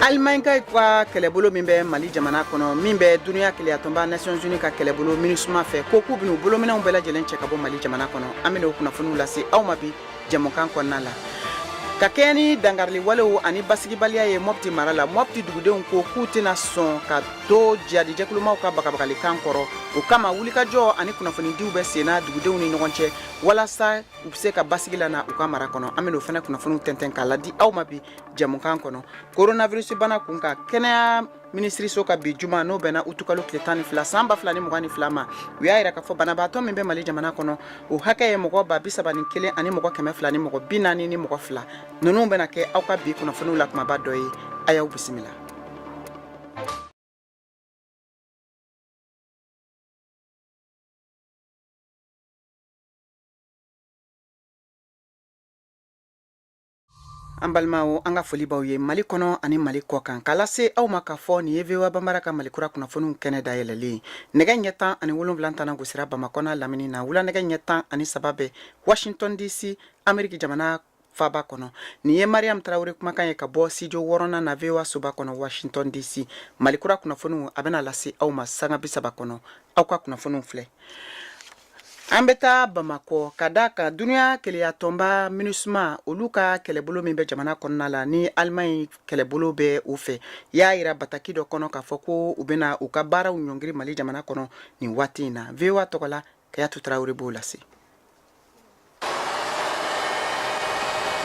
Alimankaw ka kɛlɛbolo min bɛ mali jamana kɔnɔ min bɛ dunya kelenyatɔnba nations unies ka kɛlɛbolo minisuma fɛ ko k'u bɛn'u bolominɛnw bɛɛ lajɛlen cɛ ka bɔ mali jamana kɔnɔ an bɛna o kunnafoniw lase aw ma bi jɛmukan kɔnɔna la ka kɛɲɛ ni dankarili walew ani basigibaliya ye mɔpti mara la mɔpti dugudenw ko k'u tɛna sɔn ka to jihadi jɛkulumaw ka bagabagalikan kɔrɔ o kama wulikajɔ ani kunnafonidiw bɛ senna dugudenw ni ɲɔgɔn cɛ walasa u bɛ se ka basigi la na u ka mara kɔnɔ an bɛna o fana kunnafoniw tɛntɛn k'a ladi aw ma bi jɛmukan kɔnɔ coronavirus bana kunkan kɛnɛya minisiriso ka bi juma n'o bɛnna utukalo tile tan ni fila san ba fila ni mugan ni fila ma u y'a yira k'a fɔ banabaatɔ min bɛ mali jamana kɔnɔ o hakɛ ye mɔgɔ ba bisaba ni kelen ani mɔgɔ kɛmɛ fila ni mɔgɔ bi naani ni mɔgɔ fila ninnu bɛna kɛ aw ka bi kunnafoniw la kumaba dɔ ye a y'aw bisimila an balimaw an ka foli b'aw ye mali kɔnɔ ani mali kɔ kan k'a lase aw ma k'a fɔ nin ye voa banbara ka malikura kunnafoniw kɛnɛ dayɛlɛlen ye nɛgɛ ɲɛ tan ani wolonwula tɛna gosira bamakɔ n'a lamini na wula nɛgɛ ɲɛ tan ani saba bɛ washington dc ameriki jamana faaba kɔnɔ nin ye mariam tarawele kumakan ye ka bɔ studio wɔɔrɔnan na voa soba kɔnɔ washington dc malikura kunnafoniw a bɛna lase aw ma sanga bisaba kɔnɔ aw ka kunnafoniw filɛ an bɛ taa bamakɔ ka da kan dunya kelenyatɔnba minisuma olu ka kɛlɛbolo min bɛ jamana kɔnɔna la ni alimaɲi kɛlɛbolo bɛ u fɛ y'a yira bataki dɔ kɔnɔ k'a fɔ ko u bɛna u ka baaraw ɲɔngiri mali jamana kɔnɔ nin waati in na voa tɔgɔ la kadiatu tarawele b'o lase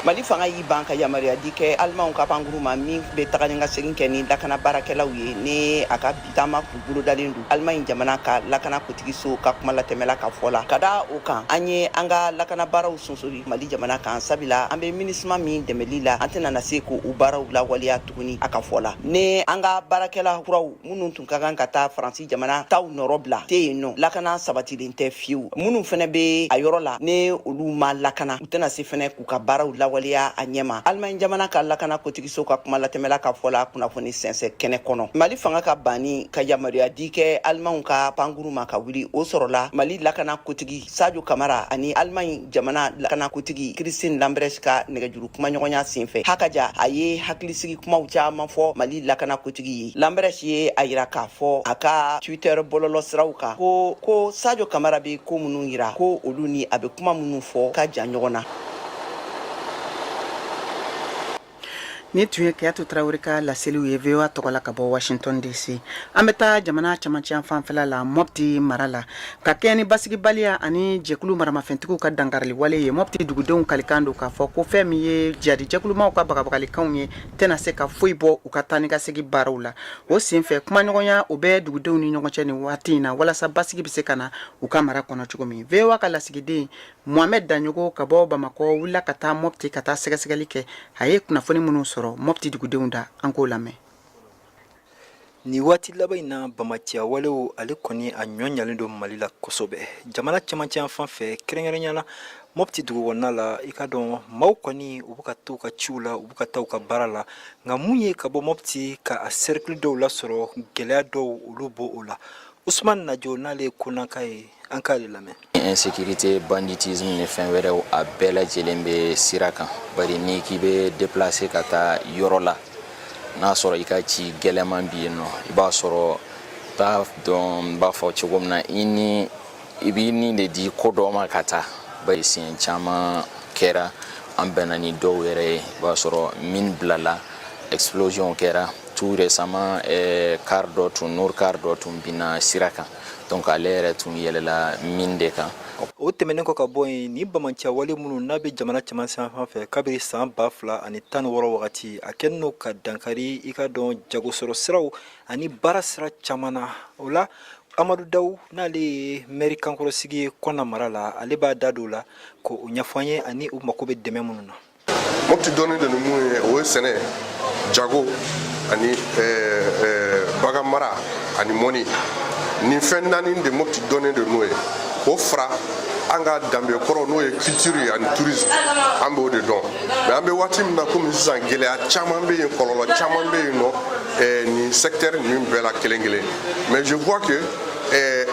mali fanga y'i ban ka yamaruya di kɛ alimanw ka pankuru ma min bɛ taga ni ka segin kɛ ni lakana baarakɛlaw ye ni a ka bi taama tun bolodalen don alimaɲi jamana ka lakana kotigiso ka kuma latɛmɛla ka fɔ la ka da o kan an ye an ka lakana baaraw sonsori mali jamana kan sabila an bɛ minisima min dɛmɛli la an tɛna na se k'o baaraw lawaleya tuguni a ka fɔ la ni an ka baarakɛla kuraw minnu tun ka kan ka taa faransi jamana taw nɔrɔ bila tɛ yen nɔ lakana sabatilen tɛ fiyewu minnu fana bɛ a yɔrɔ la ni olu ma lakana u tɛna se fana k'u ka baaraw lawaleya a ɲɛma alimaɲi jamana ka lakana kotigiso ka kuma latɛmɛla ka fɔ la kunnafoni sɛnsɛ kɛnɛ kɔnɔ mali fanga ka banni ka yamaruya di kɛ alimanw ka pankuru ma ka wuli o sɔrɔla mali lakana kotigi sajo kamara ani alimaɲi jamana lakanakotigi christine lambrecht ka nɛgɛjuru kumaɲɔgɔnya senfɛ hakaja a ye hakilisigi kumaw caaman fɔ mali lakanakotigi ye lambrecht ye a yira k'a fɔ a ka twitter bɔlɔlɔ siraw kan ko ko sajo kamara bɛ ko minnu yira ko olu ni a bɛ kuma minnu fɔ ka jan ɲɔgɔn na nin tun ye kayatu tarawele ka laseliw ye VOA tɔgɔ la ka bɔ washington DC an bɛ taa jamana camancɛyanfan fɛla la mɔpti mara la ka kɛɲɛ ni basigibaliya ani jɛkulu maramafɛntigiw ka dankariliwale ye mɔpti dugudenw kalikan don k'a fɔ ko fɛn min ye jihadi jɛkulumaw ka bagabagalikanw ye tɛna se ka foyi bɔ u ka taa ni ka segin baaraw la o senfɛ kumaɲɔgɔnya o bɛ dugudenw ni ɲɔgɔn cɛ nin waati in na walasa basigi bɛ se ka na u ka mara kɔnɔ cogo min VOA ka lasigiden Mohamed Daɲɔgɔ ka bɔ bamakɔ wulila ka taa mɔpti ka taa sɛgɛsɛgɛli kɛ a ye kunnafoni minnu sɔrɔ mɔpti dugudenw da an k'o lamɛn nin waati laban in na banbaanciya walew ale kɔni a nɔgɔyalen don mali la kosɛbɛ jamana camancɛyanfan fɛ kɛrɛnkɛrɛnya na mɔpti dugukɔnɔna la i k'a dɔn maaw kɔni u bɛ ka taa u ka ciw la u bɛ ka taa u ka baara la nka mun ye ka bɔ mɔpti ka a sɛrikili dɔw lasɔrɔ gɛlɛya dɔw olu b'o la usman najo n'ale ye kɔnnaka ye an k'ale lamɛn insécurité banditisme ni fɛn wɛrɛw a bɛɛ lajɛlen bɛ sira kan bari n'i k'i bɛ déplacer ka taa yɔrɔ la n'a sɔrɔ i ka ci gɛlɛman bɛ yen nɔ i b'a sɔrɔ t'a dɔn n b'a fɔ cogo min na i b'i ni de di ko dɔ ma ka taa bari siɲɛ caman kɛra an bɛnna ni dɔw yɛrɛ ye i b'a sɔrɔ mine bilala explosion kɛra tout récemment eh, car dɔ tun nord car dɔ tun binna sira kan donc ale yɛrɛ tun yɛlɛla mine de kan o tɛmɛnen kɔ ka bɔ yen nin banbaanciya wale minnu n'a bɛ jamana camancɛyanfan fɛ kabiri san ba fila ani tan ni wɔɔrɔ wagati a kɛlen don ka dankari i k'a dɔn jagosɔrɔ siraw ani baara sira caman na o la amadu dawu n'ale ye mɛri kankɔrɔsigi ye kɔnna mara la ale b'a da don o la k'o ɲɛfɔ an ye ani u mako bɛ dɛmɛ minnu na mopti dɔnnen de ni mun ye o ye sɛnɛ jago ani bagan mara ani mɔni nin fɛn naani de mopti dɔnnen de n'o ye o fara an ka danbe kɔrɔ n'o ye culture ye ani tourisme an b'o de dɔn mais an bɛ waati min na komi sisan gɛlɛya caman bɛ yen kɔlɔlɔ caman bɛ yen nɔ nin secteur ninnu bɛɛ la kelen kelen mais je vois que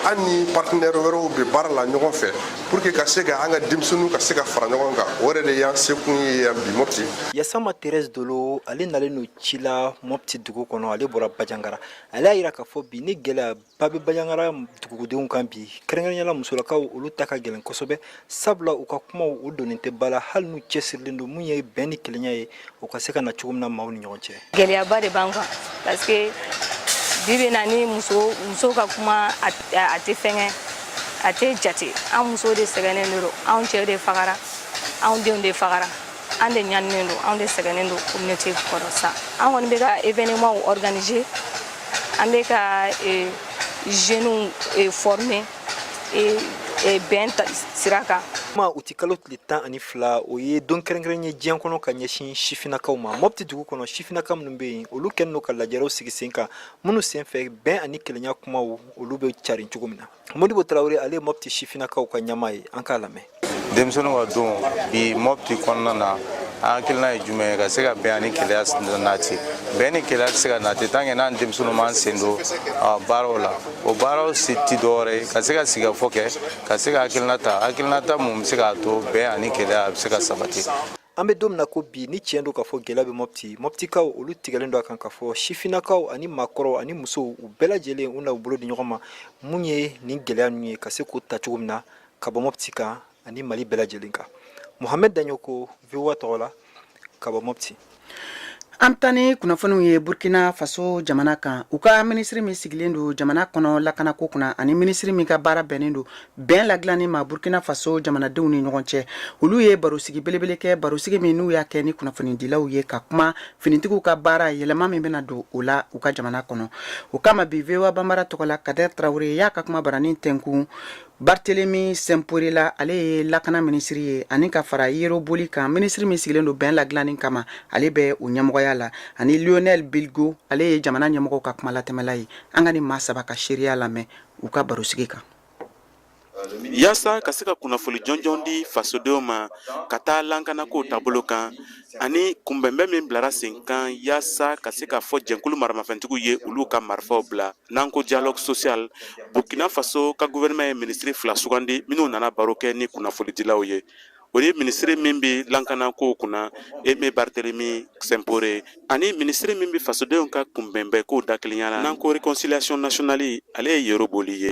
an ni partenaire wɛrɛw bɛ baara la ɲɔgɔn fɛ pour que ka se ka an ka denmisɛnninw ka se ka fara ɲɔgɔn kan o yɛrɛ de y'an sekun ye yan bi mopti yasama thérèse dolo ale nalen don ci la mopti dugu kɔnɔ ale bɔra bajangara ale y'a yira k'a fɔ bi ni gɛlɛyaba bɛ bajangara dugudenw kan bi kɛrɛnkɛrɛnyala musolakaw olu ta ka gɛlɛn kosɛbɛ sabula u ka kumaw u donnen tɛ ba la hali n'u cɛsirilen don mun ye bɛn ni kelenya ye u ka se ka na cogo min na maaw ni ɲɔgɔn cɛ gɛlɛyaba de b'an kan parce que bi bi in na ni muso muso ka kuma a tɛ fɛnkɛ a tɛ jate an muso de sɛgɛnnen de don anw cɛ de fagara anw denw de fagara an de ɲaninen don anw de sɛgɛnnen don communauté kɔrɔ sa an kɔni bɛ ka événement organiser an bɛ ka jeunes former ee ee, bɛn ta sira kan juma uti kalo tile tan ani fila o ye don kɛrɛnkɛrɛn ye diɲɛ kɔnɔ ka ɲɛsin sifinakaw ma mɔpti dugu kɔnɔ sifinaka minnu bɛ yen olu kɛlen don ka lajɛrew sigi sen kan minnu sen fɛ bɛn ani kelenya kumaw olu bɛ carin cogo min na modibo tarawele ale ye mɔpti sifinakaw ka ɲɛmaa ye an k'a lamɛn denmisɛnninw ka don bi mɔpti kɔnɔna na an hakilina ye jumɛn ye ka se ka bɛn ani kelenya nati bɛn ni kelenya tɛ se ka nati tant que n'an denmisɛnninw m'an sen don baaraw la o baaraw si ti dɔwɛrɛ ye ka se ka sigikafɔ kɛ ka se ka hakilina ta hakilinata mun bɛ se k'a to bɛn ani kelenya a bɛ se ka sabati an bɛ don min na ko bi ni tiɲɛ don k'a fɔ gɛlɛya bɛ mɔpti mɔptikaw olu tigɛlen don a kan k'a fɔ sifinakaw ani maakɔrɔw ani musow u bɛɛ lajɛlen u na u bolo di ɲɔgɔn ma mun ye nin gɛlɛya ninnu ye ka se k'o ta cogo min na ka bɔ mɔpti kan ani mali bɛɛ lajɛlen kan mohamɛd daɲoko voa tɔgɔ la ka bɔ mɔpti an bɛ taa ni kunnafoniw ye burkina faso jamana kan u ka minisiri min sigilen don jamana kɔnɔ lakanako kunna ani minisiri min ka baara bɛnnen don bɛn ladilanni ma burkina faso jamanadenw ni ɲɔgɔn cɛ olu ye barosigi belebele kɛ barosigi min n'u y'a kɛ ni kunnafonidilaw ye ka kuma finitigiw ka baara yɛlɛma min bɛna don o la u ka jamana kɔnɔ o kama bi voa banbara tɔgɔ la kadɛr tarawele y'a ka kuma baranin tɛnkun bartelemi sɛnpore la ale ye lakana minisiri ye ani ka fara yero boli kan minisiri min sigilen don bɛn ladilanni kama ale bɛ o ɲɛmɔgɔya la ani lionel bilgo ale ye jamana ɲɛmɔgɔw ka kuma latɛmɛla ye an ka nin maa saba ka seereya lamɛn u ka barosigi kan Yasa ka se ka kunnafoni jɔnjɔn di fasodenw ma ka taa lankanako taabolo kan ani kunbɛnbɛn min bilara sen kan yasa ka se k'a fɔ jɛnkulu maramafɛntigiw ye olu ka marifaw bila n'an ko dialogue social burkina faso ka gouvernement ye minisiri fila sugandi minnu nana baro kɛ ni kunnafonidilaw ye o ye minisiri min bɛ lankana kow kunna eme baritelemi sɛnpore ani minisiri min bɛ fasodenw ka kunbɛnbɛn kow dakelenya la n'an ko réconciliation nationale ale ye yero boli ye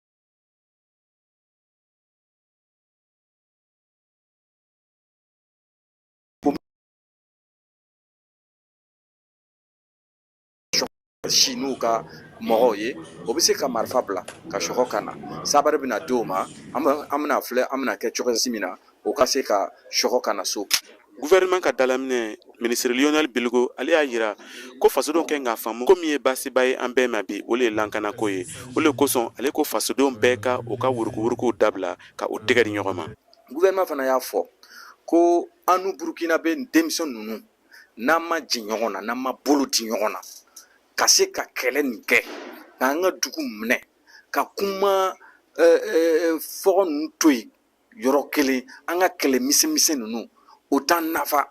si n'u ka mɔgɔw ye o bɛ se ka marifa bila ka sɔgɔ ka na sabari bɛna di o ma an bɛna filɛ an bɛna kɛ cogo si min na o ka se ka sɔgɔ ka na so gouvernement ka dalaminɛ ministre lionel bilgo ale y'a yira ko fasodenw kan k'a faamu ko min ye baasiba ye an bɛɛ ma bi o le ye lankanako ye o le kosɔn ale ko fasodenw bɛɛ ka o ka wurukuwurukuw dabila ka o tɛgɛ di ɲɔgɔn ma gouvernement fana y'a fɔ ko annu burukinabɛ denmisɛn ninnu n'an ma jɛ ɲɔgɔn na n'an ma bolo di ɲɔgɔn na ka se ka kɛlɛ nin kɛ k'an ka dugu minɛ ka kuma eh, eh, fɔgɔ ninnu to yen yɔrɔ kelen an ka kɛlɛ misɛnmisɛn ninnu o t'an nafa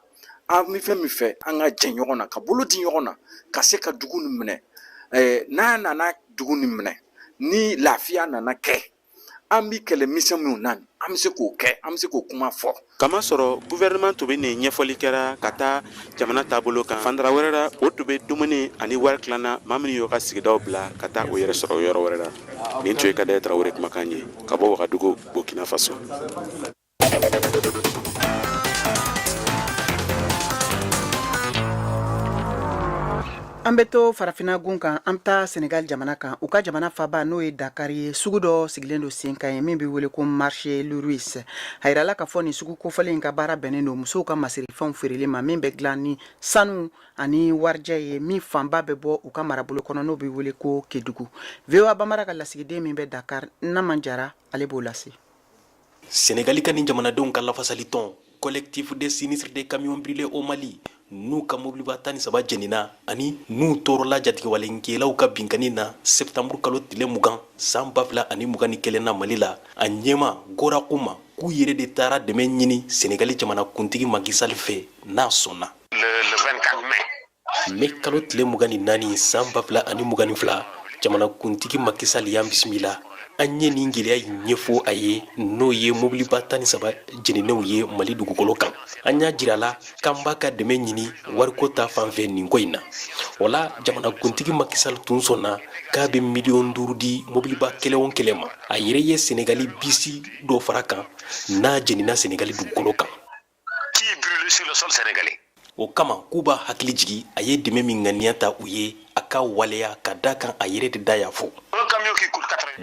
an bɛ fɛn min fɛ an ka jɛ ɲɔgɔn na ka bolo di ɲɔgɔn na ka se ka dugu nin minɛ n'a nana dugu nin minɛ ni lafiya nana kɛ an bɛ kɛlɛ misɛn minnu na an bɛ se k'o kɛ an bɛ se k'o kuma fɔ kamasɔrɔ gouvernement tun bɛ nin ɲɛfɔli kɛra ka taa jamana taabolo kan fandara wɛrɛ la o tun bɛ dumuni ani wari tilanna maa minnu y'o ka sigidaw bila ka taa o yɛrɛ sɔrɔ yɔrɔ wɛrɛ la nin tun ye kader tarawele kumakan ye ka bɔ wagadugu Burkina Faso. An bɛ to farafinnagun kan an bɛ taa senegali jamana kan u ka jamana faba n'o ye dakari ye sugu dɔ sigilen don sen ka ye min bɛ wele ko marché luruse a yirala k'a fɔ nin sugu kofɔlen in ka baara bɛnnen don musow ka masirifɛnw feereli ma min bɛ dilan ni sanu ani warijɛ ye min fanba bɛ bɔ u ka marabolo kɔnɔ n'o bɛ wele ko kedugu voa bambara ka lasigiden min bɛ dakari naman jara ale b'o lase senegali ka ni jamanadenw ka lafasali tɔn collectif des sinistrés des camions brûlés au mali n'u ka mobiliba tan ni saba jenina ani n'u tɔɔrɔla jatigɛwalenkɛlaw ka binkanni na septanburu kalo tile mugan san ba fila ani mugan ni kelen na mali la a ɲɛmaa gora khouma k'u yɛrɛ de taara dɛmɛ ɲini senegali jamana kuntigi Macky Sall fɛ n'a sɔnna le le 24 mai. Mai kalo tile mugan ni naani san ba fila ani mugan ni fila jamanakuntigi Macky Sall y'an bisimila an ye nin gɛlɛya in ɲɛfɔ a ye n'o ye mobiliba tan ni saba jeninenw ye mali dugukolo kan an y'a jira a la k'an b'a ka dɛmɛ ɲini wariko ta fan fɛ nin ko in na o la jamanakuntigi Macky Sall tun sɔnna k'a bɛ miliyɔn duuru di mobiliba kelen o kelen ma a yɛrɛ ye senegali bisi dɔ fara a kan n'a jenina senegali dugukolo kan Qui est brûlé sur le sol sénégalais o kama k'u b'a hakili jigi a ye dɛmɛ min ŋaniya ta u ye a k'a waleya ka d'a kan a yɛrɛ de da y'a fɔ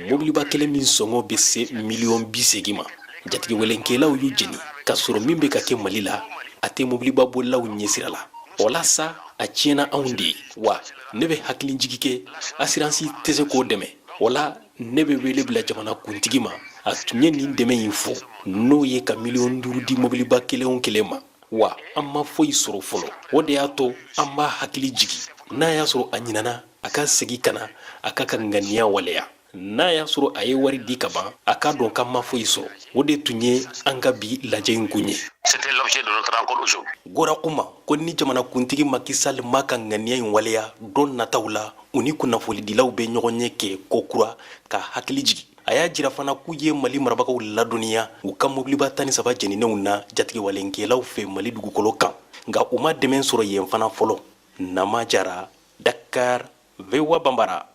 mobiliba kelen min sɔngɔ bɛ se miliyɔn bi segin ma jatigɛwalenkɛlaw y'u jeni k'a sɔrɔ min bɛ ka kɛ mali la a tɛ mobiliba bolilaw ɲɛsira la o la sa a tiɲɛna anw de ye wa ne bɛ hakili jigi kɛ asiransi tɛ se k'o dɛmɛ o la ne bɛ wele bila jamana kuntigi ma a tun ye nin dɛmɛ in fɔ n'o ye ka miliyɔn duuru di mobiliba kelen kelen ma wa an ma foyi sɔrɔ fɔlɔ o de y'a to an b'a hakili jigi n'a y'a sɔrɔ a ɲinana a ka segi ka na a k'a ka ŋaniya waleya n'a y'a sɔrɔ a ye wari di ka ban a k'a dɔn k'an ma foyi sɔrɔ o de tun ye an ka bi lajɛ in kun ye gora kuma ko ni jamanakuntigi macky sall m'a ka ŋaniya in waleya don nataw la u ni kunnafolidilaw bɛ ɲɔgɔnye kɛ kokura k'a hakili jigi a y'a jira fana k'u ye mali marabagaw ladɔnniya u ka mobiliba tan ni saba jɛninenw na jatigɛwalenkɛlaw fɛ mali dugukolo kan nka u ma dɛmɛ sɔrɔ yen fana fɔlɔ nama jara dakar voa banbara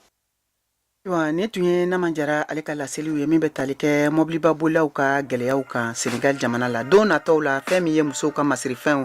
Ayiwa nin tun ye Nama Jara ale ka laseliw ye min bɛ tali kɛ mɔbiliba bolilaw ka gɛlɛyaw kan Senegal jamana la don nataw la fɛn min ye musow ka masirifɛnw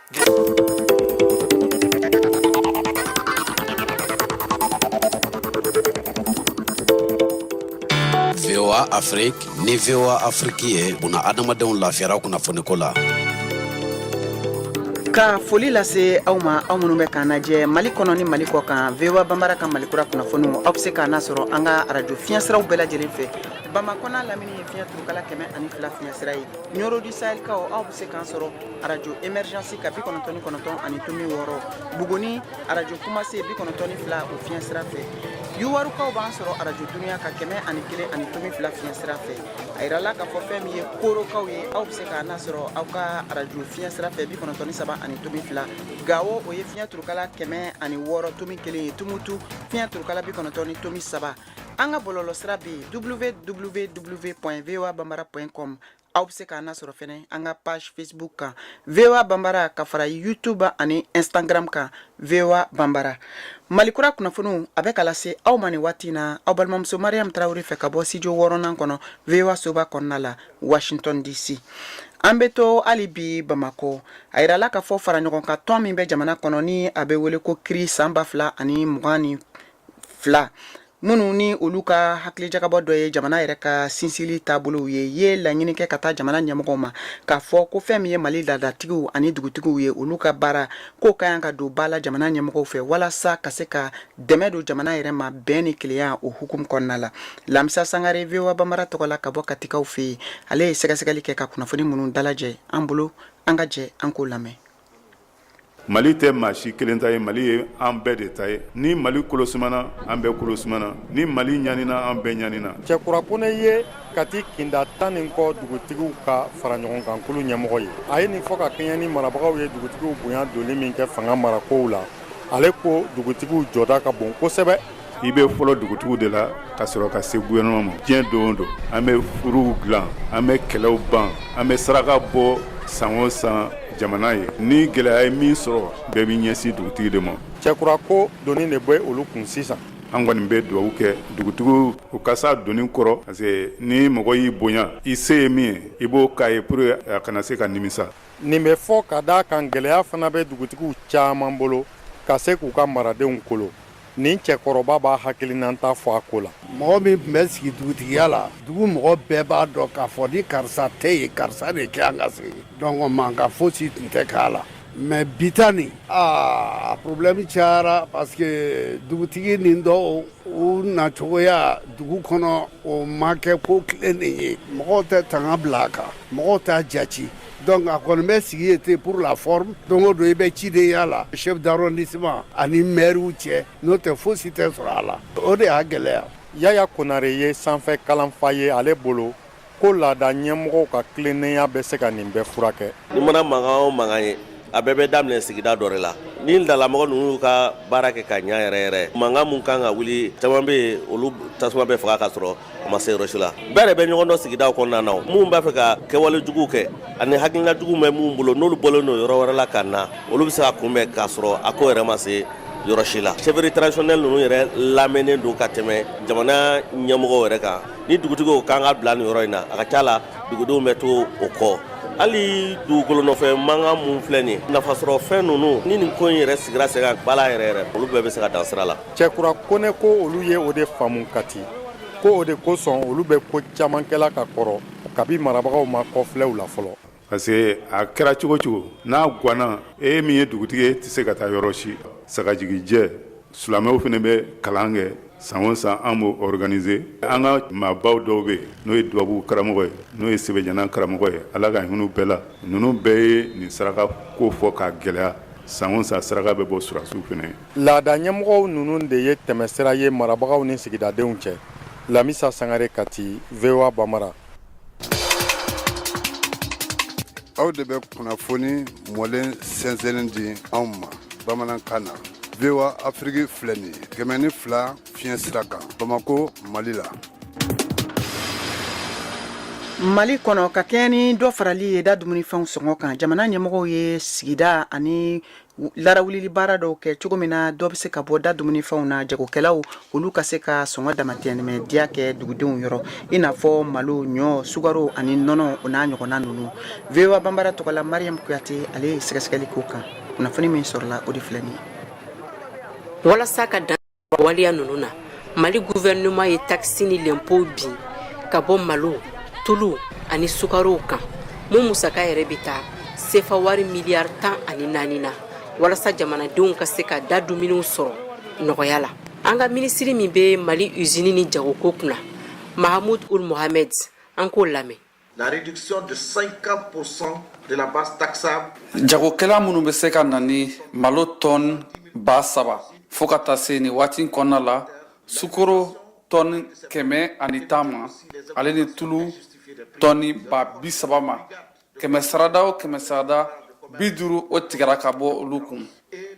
VOA Afrique ni VOA Afrique ye bunaadamadenw lafiyara kunnafoniko la. ka foli lase aw ma aw minnu bɛ k'an lajɛ mali kɔnɔ ni mali kɔ kan voa banbara ka mali kura kunnafoniw aw bɛ se k'an lasɔrɔ an ka arajo fiɲɛsiraw bɛɛ lajɛlen fɛ bamakɔ n'a lamini ye fiɲɛ turukala kɛmɛ ani fila fiɲɛsira ye nioro du sahel kaw aw bɛ se k'an sɔrɔ arajo emergence ka bi kɔnɔntɔn ni kɔnɔntɔn ani tomi wɔɔrɔ buguni arajo kumase bi kɔnɔntɔn ni fila o fiɲɛ sira fɛ yuwarukaw b'an sɔrɔ arajo dunuya ka kɛmɛ ani kelen ani tomi fila fiɲɛ sira fɛ a yirala k'a fɔ fɛn min ye korokaw ye aw bɛ se k'an lasɔrɔ aw ka arajo fiɲɛ sira fɛ bi kɔnɔntɔn ni saba ani tomi fila gawo o ye fiɲɛ turukala kɛmɛ ani wɔɔrɔ tomi kelen ye tumutu fiɲɛ turukala bi kɔnɔntɔn ni tomi saba an ka bɔlɔlɔ sira bɛ yen www voa bambara com aw bɛ se k'an lasɔrɔ fɛnɛ an ka page facebook kan voa banbara ka fara youtube ani instagram kan voa banbara mali kura kunnafoniw a bɛ ka lase aw ma nin waati na aw balimamuso mariam tarawele fɛ ka bɔ studio wɔɔrɔnan kɔnɔ voa soba kɔnɔna la washington dc an bɛ to hali bi bamakɔ a yirala k'a fɔ fara ɲɔgɔn kan tɔn min bɛ jamana kɔnɔ ni a bɛ wele ko cri san ba fila ani mugan ni fila minnu ni olu ka hakilijagabɔ dɔ ye jamana yɛrɛ ka sinsili taabolow ye ye laɲini kɛ ka taa jamana ɲɛmɔgɔw ma k'a fɔ ko fɛn min ye mali ladatigiw ani dugutigiw ye olu ka baara k'o ka yan ka don ba la jamana ɲɛmɔgɔw fɛ walasa ka se ka dɛmɛ don jamana yɛrɛ ma bɛn ni kelenya o hukumu kɔnɔna la lamisa sangare voa banbara tɔgɔ la ka bɔ katikaw fɛ yen ale ye sɛgɛsɛgɛli kɛ ka kunnafoni minnu dalajɛ an bolo an ka jɛ an k'o lamɛn Mali tɛ maa si kelen ta ye mali ye an bɛɛ de ta ye ni mali kolo sumana an bɛɛ kolo sumana ni mali ɲanina an bɛɛ ɲanina cɛkura kɔnɛ ye kati kinda tan ni kɔ dugutigiw ka fara ɲɔgɔn kan kulu ɲɛmɔgɔ ye a ye nin fɔ ka kɛɲɛ ni marabagaw ye dugutigiw bonya donli min kɛ fanga marakow la ale ko dugutigiw jɔda ka bon kosɛbɛ i bɛ fɔlɔ dugutigiw de la ka sɔrɔ ka se gouvernement ma diɲɛ don o don an bɛ furuw dilan an bɛ kɛlɛw ban an bɛ saraka bɔ san o san jamana ye ni gɛlɛya ye min sɔrɔ bɛɛ b'i ɲɛsin dugutigi de ma cɛkura ko doni de bɛ olu kun sisan an kɔni bɛ dugawu kɛ dugutigiw u ka se a doni kɔrɔ parce que ni mɔgɔ y'i bonya i se ye min ye i b'o k'a ye pour a kana se ka nimisa nin bɛ fɔ ka d'a kan gɛlɛya fana bɛ dugutigiw caman bolo ka se k'u ka maradenw kolo nin cɛkɔrɔba b'a hakilinanta fɔ a ko la mɔgɔ min tun bɛ sigi dugutigiya la dugu mɔgɔ bɛɛ b'a dɔn k'a fɔ ni karisa tɛ yen karisa de ka kan ka sigi donc mankan fosi tun tɛ k'a la mais bi ta nin a problème cayara parce que dugutigi nin dɔw u nacogoya dugu kɔnɔ o ma kɛ ko tilennen ye mɔgɔw tɛ tanga bila a kan mɔgɔw t'a jati Donc a kɔni bɛ sigi ye ten pour la forme don o don i bɛ cidenya la chef d'arrondissement ani mɛriw cɛ n'o tɛ fosi tɛ sɔrɔ a la o de y'a gɛlɛya yaya konare ye sanfɛ kalanfa ye ale bolo ko laada ɲɛmɔgɔw ka tilennenya bɛ se ka nin bɛɛ furakɛ n'i mana mankan o mankan ye a bɛɛ bɛ daminɛ sigida dɔ de la ni laadamɔgɔ ninnu ka baara kɛ ka ɲɛ yɛrɛ yɛrɛ mankan min kan ka wuli caman bɛ yen olu tasuma bɛ faga ka sɔrɔ a ma se yɔrɔ si la bɛɛ de bɛ ɲɔgɔn dɔn sigidaw kɔnɔna na minnu b'a fɛ ka kɛwale jugu kɛ ani hakilina jugu bɛ minnu bolo n'olu bɔlen don yɔrɔ wɛrɛ la ka na olu bɛ se ka kunbɛn k'a sɔrɔ a ko yɛrɛ ma se yɔrɔ si la chefferie traditionnelle ninnu yɛrɛ lamɛnnen don ka tɛmɛ jamana ɲɛmɔgɔw yɛrɛ kan ni dugutigiw kan ka bila nin yɔrɔ in na a ka ca la dugudenw bɛ to o kɔ hali dugukolo nɔfɛ mankan minnu filɛ nin nafasɔrɔ fɛn ninnu ni nin ko in yɛrɛ sigira sen kan bala yɛrɛ yɛrɛ olu bɛɛ bɛ se ka dan sira la cɛkura kone ko olu ye o de faamu kati ko o de kosɔn olu bɛ ko caman kɛla ka kɔrɔ kabi marabagaw ma kɔfilɛw la fɔlɔ parce que a kɛra cogo cogo n'a gwanna e min ye dugutigi ye e tɛ se ka taa yɔrɔ si sagajigijɛ silamɛw fana bɛ kalan kɛ san o san an b'o organiser an ka maabaw dɔw bɛ yen n'o ye dubabu karamɔgɔ ye n'o ye sɛbɛjana karamɔgɔ ye ala ka hin'u bɛɛ la ninnu bɛɛ ye nin saraka ko fɔ k'a gɛlɛya san o san saraka bɛ bɔ surasiw fana ye Laada ɲɛmɔgɔw ninnu de ye tɛmɛsira ye marabagaw ni sigidadenw cɛ lamisa sangare kati vwa bambara aw de bɛ kunnafoni mɔlen sɛnsɛnnen di anw ma bamanankan na vwa afiriki filɛ nin kɛmɛ ni fila fiɲɛ sira kan bamakɔ mali la mali kɔnɔ ka kɛɲɛ ni dɔ farali ye da dumunifɛnw sɔngɔ kan jamana ɲɛmɔgɔw ye sigida ani larawulili baara dɔw kɛ cogo min na dɔ bɛ se ka bɔ da dumunifɛnw na jagokɛlaw olu ka se ka sɔngɔ damatɛmɛ diya kɛ dugudenw yɔrɔ i n'a fɔ malo ɲɔ sukaro ani nɔnɔ o n'a ɲɔgɔnna ninnu vwa bambara tɔgɔ la mariam kuyate ale ye sɛgɛsɛgɛli k'o kan kunnafoni min sɔrɔla o de filɛ nin ye walasa ka waleya ninnu na mali guvɛrɛnɛman ye takisi ni lɛnpo bin ka bɔ malo tulu ani sukarow kan mun musaka yɛrɛ bɛ taa sefa wari miliyari tan ani naani na walasa jamanadenw ka se ka da dumuniw sɔrɔ nɔgɔya la an ka minisiri min bɛ mali usini ni jagoko kunna mahamud ould mohamed an k'o lamɛn La réduction de 50% de la base taxable. Jagokɛla minnu bɛ se ka na ni malo tɔni ba saba fo ka taa se nin waati in kɔnɔna la sukoro tɔni kɛmɛ ani tan ma ale ni tulu tɔni ba bi saba ma kɛmɛ sarada o kɛmɛ sarada bi duuru o tigɛra ka bɔ olu kun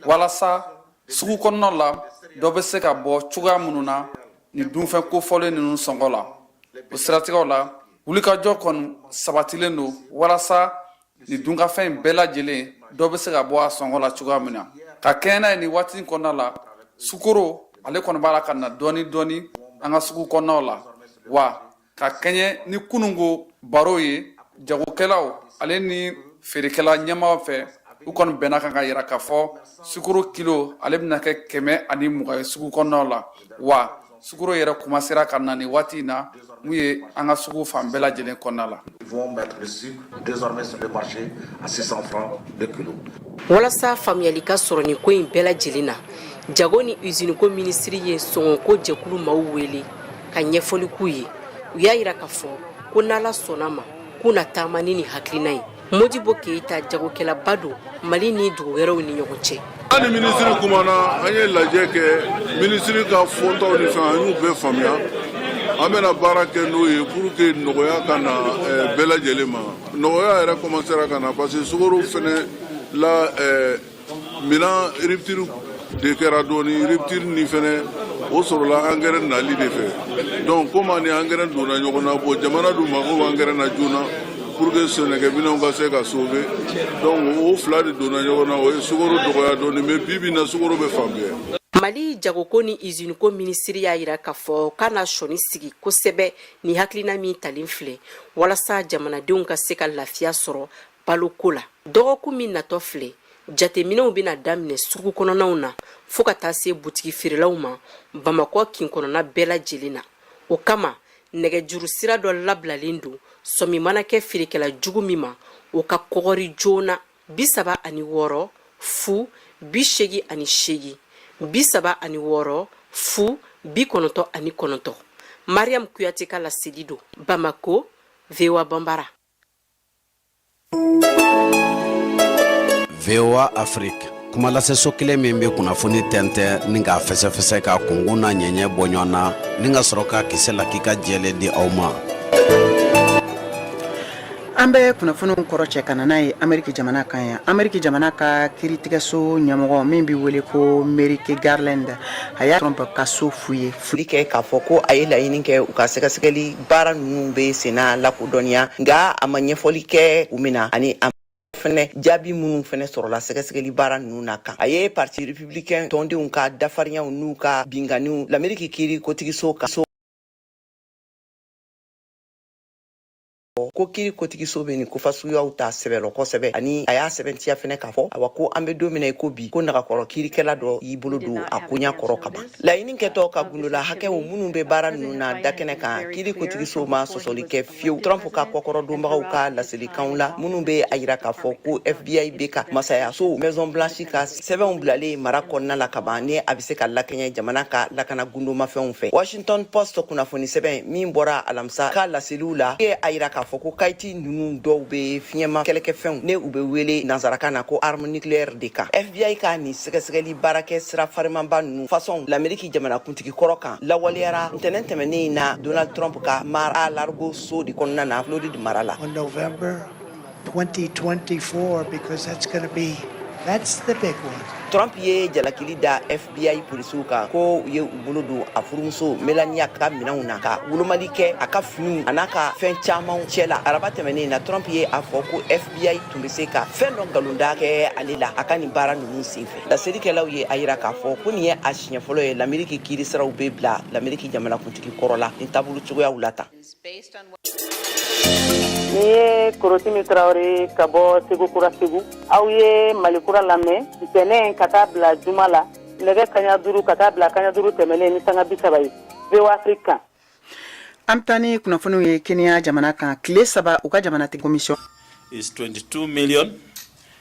walasa sugu kɔnɔna la dɔ bɛ se ka bɔ cogoya minnu na nin dunfɛn kofɔlen ninnu sɔngɔ la o siratigɛw la wulikajɔ kɔni sabatilen don walasa nin dunkafɛn in bɛɛ lajɛlen dɔ bɛ se ka bɔ a sɔngɔ la cogoya min na ka kɛɲɛ n'a ye nin waati in kɔnɔna la sukoro ale kɔni b'a la ka na dɔɔni dɔɔni an ka sugu kɔnɔnaw la wa ka kɛɲɛ ni kununko baro ye jagokɛlaw ale ni feerekɛla ɲɛmaaw fɛ u kɔni bɛnna a kan k'a yira k'a fɔ sukoro kilo ale bɛna kɛ kɛmɛ ani mugan ye sugu kɔnɔnaw la wa sukoro yɛrɛ kumansera ka na nin waati in na mun ye an ka sugu fan bɛɛ lajɛlen kɔnɔna la walasa faamuyali ka sɔrɔ nin ko in bɛɛ lajɛlen na jago ni usiniko minisiri ye sɔngɔko jɛkulu maaw wele ka ɲɛfɔli k'u ye u y'a yira k'a fɔ ko n'ala sɔnna a ma k'u na taama ni nin hakilina ye modibo keyita jagokɛlaba don mali ni dugu wɛrɛw ni ɲɔgɔn cɛ an ni minisiri kumana an ye lajɛ kɛ minisiri ka fɔtaw ni fɛn an y'u bɛɛ faamuya an bɛna baara kɛ n'o ye pour que nɔgɔya ka na eh, bɛɛ lajɛlen ma nɔgɔya yɛrɛ kɔmansera ka na parce que sukoro fɛnɛ la eh, Minɛn rupture de kɛra dɔɔni rupture nin fɛnɛ o sɔrɔla angɛrɛ nali de fɛ donc komi a ni angɛrɛ donna ɲɔgɔn na bon jamana dun mago bɛ angɛrɛ na joona pour que sɛnɛkɛminɛnw ka se ka sauver donc o fila de donna ɲɔgɔn na o ye sukoro dɔgɔya dɔɔni mais bi bi na sukoro bɛ fan bɛɛ mali jagoko ni usiniko minisiri y'a yira k'a fɔ k'a na sɔnin sigi kosɛbɛ nin hakilina min talen filɛ walasa jamanadenw ka se ka lafiya sɔrɔ Baloko la dɔgɔkun min natɔ filɛ jateminɛw bɛna daminɛ sugu kɔnɔnaw na fɔɔ ka taa se butigi feerelaw ma bamakɔ kin kɔnɔna bɛɛ lajɛlen na o kama nɛgɛjuru sira dɔ labilalen don sɔmi mana kɛ feerekɛla jugu min ma o ka kɔgɔri joona bi saba ani wɔɔrɔ fu bi seegin ani seegin bi saba ani wɔɔrɔ fu bi kɔnɔntɔ ani kɔnɔntɔ mariam kuyate ka laseli don bamako voa banbara voa afrique kumalaseso kelen min bɛ kunnafoni tɛntɛn ni k'a fɛsɛfɛsɛ ka kungo n'a ɲɛɲɛ bɔ ɲɔgɔn na ni ka sɔrɔ k'a kisɛ lakika jɛlen di aw ma an bɛ kunnafoniw kɔrɔcɛ ka na n'a ye ameriki jamana kan yan ameriki jamana ka kiritigɛso ɲɛmɔgɔ min bɛ wele ko merrick garland a ye trump ka so fouille fɔli kɛ k'a fɔ ko a ye laɲini kɛ u ka sɛgɛsɛgɛli baara ninnu bɛ senna lakodɔnniya nka a ma ɲɛfɔli kɛ kun min na ani a fɛnɛ jaabi minnu fɛnɛ sɔrɔla sɛgɛsɛgɛli baara ninnu na kan a ye parti républicain tɔndenw ka dafarinyaw n'u ka binkanniw lameriki kiri kotigiso ka so ko kiri kotigiso bɛ nin ko fasuguyaw ta sɛbɛ la kosɛbɛ ani a y'a sɛbɛntiya fɛnɛ k'a fɔ awa ko an bɛ don min na i ko bi ko nagakɔrɔ kirikɛla dɔ y'i bolo don a koɲa kɔrɔ kaban Laɲini kɛtɔ ka gundola hakɛw minnu bɛ baara ninnu na da kɛnɛ kan kiri kotigiso ma sɔsɔli kɛ fiyewu trump ka kɔkɔrɔdonbagaw ka laselikanw la minnu bɛ a yira k'a fɔ ko fbi bɛ ka masayaso maison blanche ka sɛbɛnw bilalen mara kɔnɔna la kaban ni a bɛ se ka lakɛɲɛ jamana ka lakana gundomafɛnw fɛ washington post kunnafoni sɛbɛn min bɔra alamisa ka laseliw la ye a yira k'a fɔ ko kayiti ninnu dɔw bɛ fiɲɛma kɛlɛkɛfɛnw ni u bɛ wele nansarakan na ko arme nucléaire de kan fbi ka nin sɛgɛsɛgɛli baarakɛ sira farimanba ninnu fasɔn lameriki jamanakuntigi kɔrɔ kan lawaleyara ntɛnɛn tɛmɛnen in na donald trump ka mar-a-lago so de kɔnɔna na floride mara la On November 2024, because that's going to be, that's the big one. trump ye jalakili da fbi polisiw kan ko u ye u bolo don a furumuso melania ka minɛnw na ka wolomali kɛ a ka finiw a n'a ka fɛn camanw cɛ la araba tɛmɛnen in na trump ye a fɔ ko fbi tun bɛ se ka fɛn dɔ nkalonda kɛ ale la a ka nin baara ninnu senfɛ laselikɛlaw ye a yira k'a fɔ ko nin ye a siɲɛ fɔlɔ ye lameriki kiiri siraw bɛ bila lameriki jamanakuntigi kɔrɔ la nin taabolo cogoyaw la tan Nin ye Korotimi Tarawele ye ka bɔ Segu Kura Segu. Aw ye Mali Kura lamɛn ntɛnɛn ka taa bila juma la nɛgɛ kanɲɛ duuru ka taa bila kanɲɛ duuru tɛmɛnen ni sanga bi saba ye. VOA Afrique kan. An bɛ taa ni kunnafoniw ye Kenya jamana kan tile saba u ka jamanatigi commission is 22 million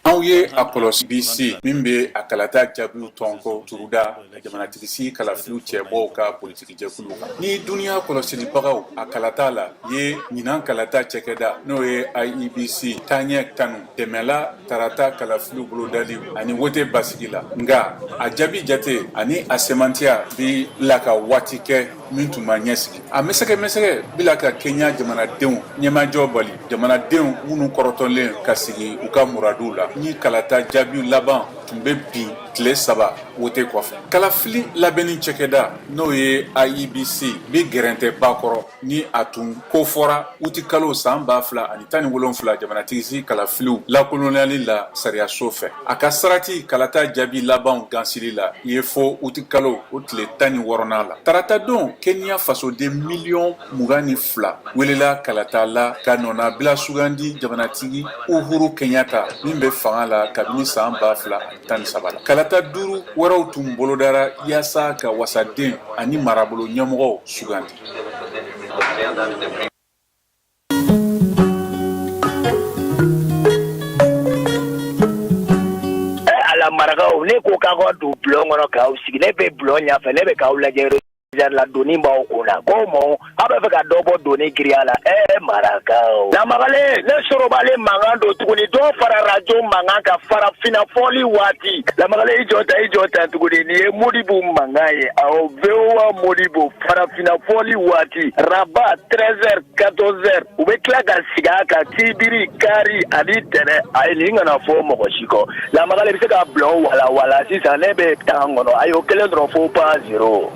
Aw ye a kɔlɔsi IEBC min bɛ a kalata jaabiw tɔn ko tuguda jamanatigisigi kalafiliw cɛbɔw ka politikijɛkulu kan ni duniya kɔlɔsilibagaw a kalata la ye ɲinan kalata cɛkɛda n'o ye IEBC taaɲɛ tanu dɛmɛla tarata kalafiliw bolodali ani wote basigi la nka a jaabi jate ani a sɛmɛntiya bi la ka waati kɛ min tun ma ɲɛsigi a mɛsɛkɛmɛsɛkɛ bi la ka kenya jamanadenw ɲɛmajɔ bali jamanadenw minnu kɔrɔtɔlen ka sigi u ka muraduw la ni kalata jaabi laban tun bɛ bin tile saba wote kɔfɛ kalafili labɛnni cɛkɛda n'o ye iebc bɛ gɛrɛntɛ ba kɔrɔ ni a tun ko fɔra uti kalo san ba fila ani tan ni wolonfila jamanatigisigi kalafiliw lakolonyali la sariyaso fɛ a ka sarati kalata jaabi labanw gansili la i ye fo uti kalo o tile tan ni wɔɔrɔna la tarata don kenya fasoden miliyɔn mugan ni fila welela kalata la ka nɔnabila sugandi jamanatigi uhuru kenyatta min bɛ fanga la kabini san ba fila ani tan ni saba la kalata duuru wɛrɛw tun bolodara yaasa ka wasaden ani marabolo ɲɛmɔgɔw sugandi marakaw ne ko k'aw ka don bulon kɔnɔ k'aw sigi ne bɛ bulon ɲɛfɛ ne bɛ k'aw lajɛ la doni b'aw kun na ko mɔ aw bɛ fɛ ka dɔ bɔ doni giriya la ɛɛ marakaw lamagalen ne sorobalen mankan don tuguni dɔ fara arajo mankan kan farafinna fɔli waati lamagalen i jɔ ta i jɔ ta tuguni nin ye modibo mankan ye aw voa modibo farafinna fɔli waati araba treize heures quatorze heures u bɛ tila ka segin a kan sibiri kari ani tɛnɛn ayi nin kana fɔ mɔgɔ si kɔ lamagalen bɛ se ka bulon walawala sisan ne bɛ taa kɔnɔ a y'o kelen dɔrɔn fɔ pa zero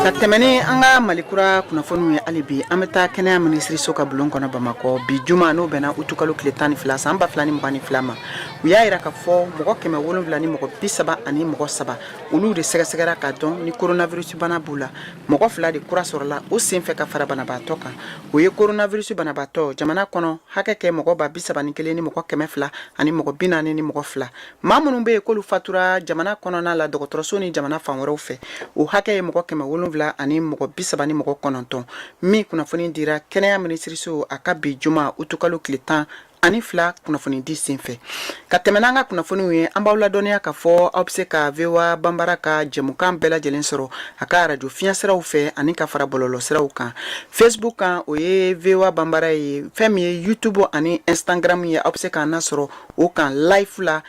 ka tɛmɛ ni an ka malikura kunnafoniw ye hali bi an bɛ taa kɛnɛya minisiriso ka bulon kɔnɔ bamakɔ bi juma n'o bɛnna utukalo tile tan ni fila san ba fila ni mugan ni fila ma u y'a yira ka fɔ mɔgɔ kɛmɛ wolonwula ni mɔgɔ bi saba ani mɔgɔ saba olu de sɛgɛsɛgɛra ka dɔn ni koronavirusi bana b'u la mɔgɔ fila de kura sɔrɔla o senfɛ ka fara banabaatɔ kan o ye koronavirusi banabaatɔ jamana kɔnɔ hakɛ kɛ mɔgɔ ba bi saba ni kelen ni mɔgɔ kɛmɛ fila ani mɔgɔ bi naani ni mɔgɔ fila maa minnu bɛ yen k'olu fatura jamana kɔnɔna la dɔgɔtɔrɔso ni jamana fan wɛrɛw fɛ o hakɛ ye mɔgɔ kɛmɛ wolonwula ani mɔgɔ bi saba ni mɔgɔ kɔnɔntɔn min kunnafoni dira kɛnɛya minisiriso a ka bi juma utukalo tile tan ani fila kunnafoni di senfɛ ka tɛmɛ n'an ka kunnafoniw ye an b'aw ladɔnniya ka fɔ aw be se ka voa banbara ka jɛmukan bɛɛ lajɛlen sɔrɔ a ka arajo fiɲɛ siraw fɛ ani ka fara bɔlɔlɔ siraw kan facebook kan o ye voa banbara ye fɛn min ye youtube ani instagram ye aw be se k'an nasɔrɔ o kan live la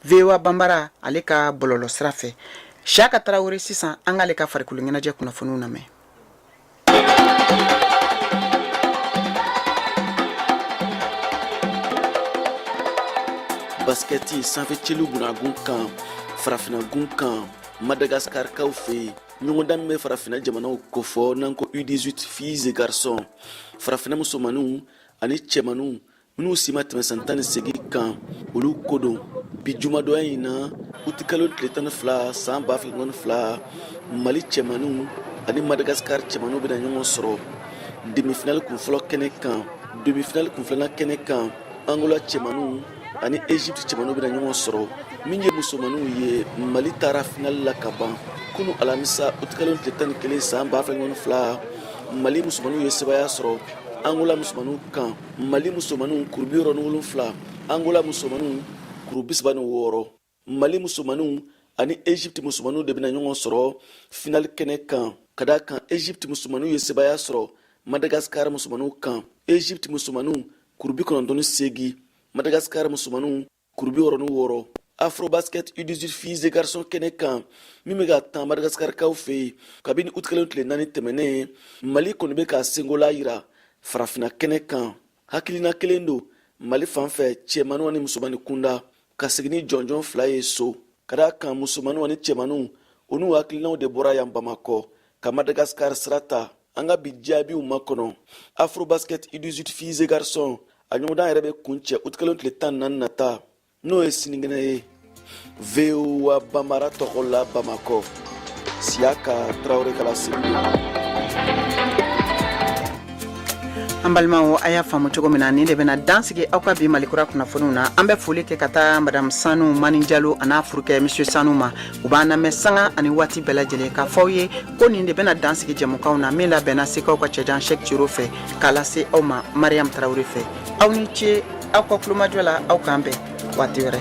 voa banbara ale ka bɔlɔlɔ sira fɛ siyaka tarawele sisan an k'ale ka farikolo ɲɛnajɛ kunnafoniw lamɛn basikɛti sanfɛ celu gunagun kan farafinagun kan madagaskarikaw fɛ yen ɲɔgɔndan min bɛ farafina jamanaw kofɔ n'an ko u18 filles et garçons farafina musomaninw ani cɛmaninw minnu si ma tɛmɛ san tan ni seegin kan olu ko don bi jumadonya in na utikalo tile tan ni fila san ba fila ni mugan ni fila mali cɛmaniw ani madagasikari cɛmaniw bɛna ɲɔgɔn sɔrɔ demifinali kunfɔlɔ kɛnɛ kan demifinali kunfilanan kɛnɛ kan angola cɛmaniw ani egypte cɛmaniw bɛna ɲɔgɔn sɔrɔ min ye musomaniw ye mali taara finali la ka ban kunu alamisa utikalo tile tan ni kelen san ba fila ni mugan ni fila mali musomaniw ye sebaaya sɔrɔ angola musomaniw kan mali musomanninw kuru bi wɔɔrɔ ni wolonfila angola musomanninw kuru bisaba ni wɔɔrɔ mali musomanninw ani egypte musomanninw de bɛna ɲɔgɔn sɔrɔ finali kɛnɛ kan ka da kan egypte musomanninw ye sebaya sɔrɔ madagasikar musomanninw kan egypte musomanninw kuru bi kɔnɔntɔn ni seegin madagasikar musomanninw kuru bi wɔɔrɔ ni wɔɔrɔ afrobasket u18 filles et garçons kɛnɛ kan min bɛ ka tan madagaskarikaw fɛ yen kabini utikalo tile naani tɛmɛnen mali kɔni bɛ ka sengola yira farafina kɛnɛ kan hakilina kelen don mali fan fɛ cɛmaniw ani musomani kunda ka segin ni jɔnjɔn fila ye so ka da kan musomaniw ani cɛmaniw u n'u hakilinaw de bɔra yan bamakɔ ka madagasikar sira ta an ka bi jaabiw makɔnɔ afrobasket u18 filles et garçons a ɲɔgɔndan yɛrɛ bɛ kun cɛ utikalo tile tan ni naani nata n'o ye sinikɛnɛ ye voa bambara tɔgɔ la bamakɔ siyaka tarawele k'a lase an balimaw a y'a faamu cogo min na nin de bɛna dansigi aw ka bi malikura kunnafoniw na an bɛ foli kɛ ka taa madamu sanu mani jalo an'a furukɛ misiye sanu ma u b'an namɛn sanga ani waati bɛɛ lajɛlen k'a fɔ aw ye ko nin de bɛna dan sigi jɛmukan na min labɛnna sekaw ka cɛjan sɛki cero fɛ k'a lase aw ma mariyamu tarawele fɛ aw ni ce aw ka kulomajɔ la aw k'an bɛn waati wɛrɛ